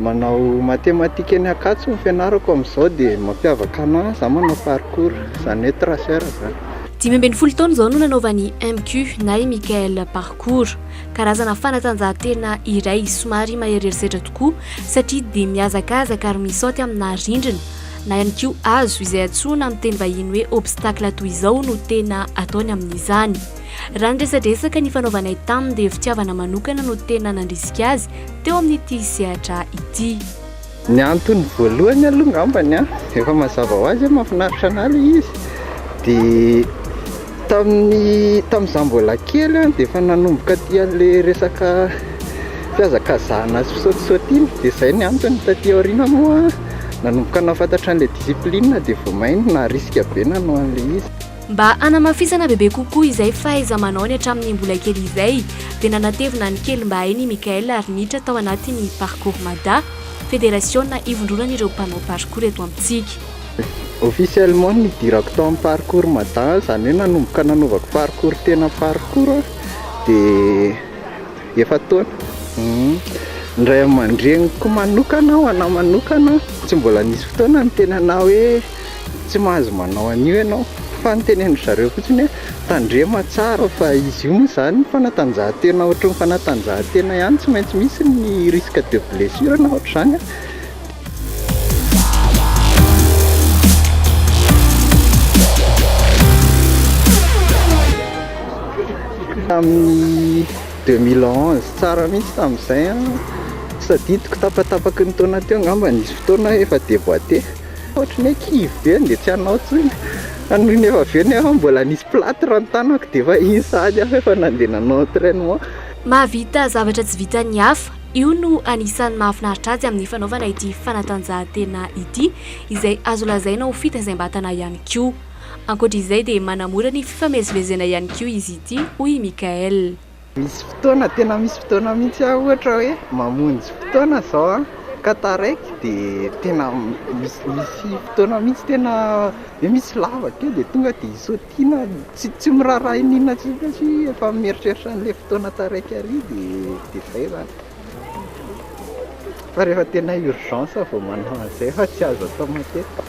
Manao matematika eny Ankatso ny fianarako amin'izao dia mampiavaka anah izaho manao parcours, izany hoe tracer izany. Dimy ambin'ny folo taona izao no nanaovany MQ na i Michael parcours. Karazana fanatanjahantena iray somary maheriheri setra tokoa satria dia mihazakazaka ary misaoty aminà rindrina na ihany koa hazo izay antsoina amin'ny teny vahiny hoe obstacle toy izao no tena ataony amin'izany. Raha ny resadresaka nifanaovanay taminy dia fitiavana manokana no tena nandrisika azy teo amin'ity sehatra ity. Ny antony voalohany aloha angambany an, efa mazava ho azy hoe mahafinaritra anah ilay izy, dia tamin'ny tamin'izaho mbola kely an dia efa nanomboka tia an'ilay resaka fihazakazahana sy fisaotisaoty iny, dia izay no antony taty aoriana moa nanomboka nahafantatra an'ilay discipline dia vao mainka naharisika be nanao an'ilay izy. Mba hanamafisana bebe kokoa izay fahaiza-manaony hatramin'ny mbola kely izay, dia nanatevina ny kelim-bahainy i Michael ary niditra tao anatin'ny Parcours Mada, federasiona ivondronan'ireo mpanao parcours eto amintsika. Officiellement nidirako tao amin'ny Parcours Mada, izany hoe nanomboka nanaovako parcours tena parcours aho dia efa-taona. Ny ray aman-dreniko manokana, ho anà manokana, tsy mbola nisy fotoana niteny anà hoe. Tsy mahazo manao an'io ianao fa ny teneno ry zareo fotsiny hoe tandrema tsara fa izy io moa izany fanatanjahantena ohatry ny fanatanjahantena ihany tsy maintsy misy ny risque de blessure na ohatr'izany an. Tamin'ny deux mille onze tsara mihitsy tamin'izay an, tsy tadidiko tapatapaky ny taona teo angamba nisy fotoana efa deboite. Ohatry ny hoe kivy be dia tsy hanao intsony fa noho ny efa avy eo nefa mbola nisy platre ny tanako dia efa iny sahady aho efa nandeha nanao entrainement. Mahavita zavatra tsy vitan'ny hafa, io no anisan'ny mahafinaritra azy amin'ny fanaovana ity fanatanjahantena ity izay azo lazaina ho fitaizam-batana ihany koa. Ankoatra izay dia manamora ny fifamezivezena ihany koa izy ity, hoy i Mickaël. Misy fotoana, tena misy fotoana mihitsy aho ohatra hoe mamonjy fotoana izao an, ka taraiky dia tena misy misy fotoana mihitsy tena hoe misy lavaka eo dia tonga dia isaotiana, tsy tsy miraharaha inona inona intsony satria efa mieritreritra an'ilay fotoana taraiky ary dia dia izay izany. Fa rehefa tena urgence vao manao an'izay fa tsy azo atao matetika.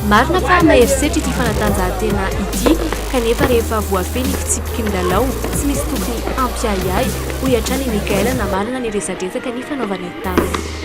Marina fa mahery setra ity fanatanjahantena ity kanefa rehefa voafehy ny fitsipiky ny lalao tsy misy tokony hampiahiahy, hoy hatrany i Michael namarana ny resadresaka nifanaovanay taminy.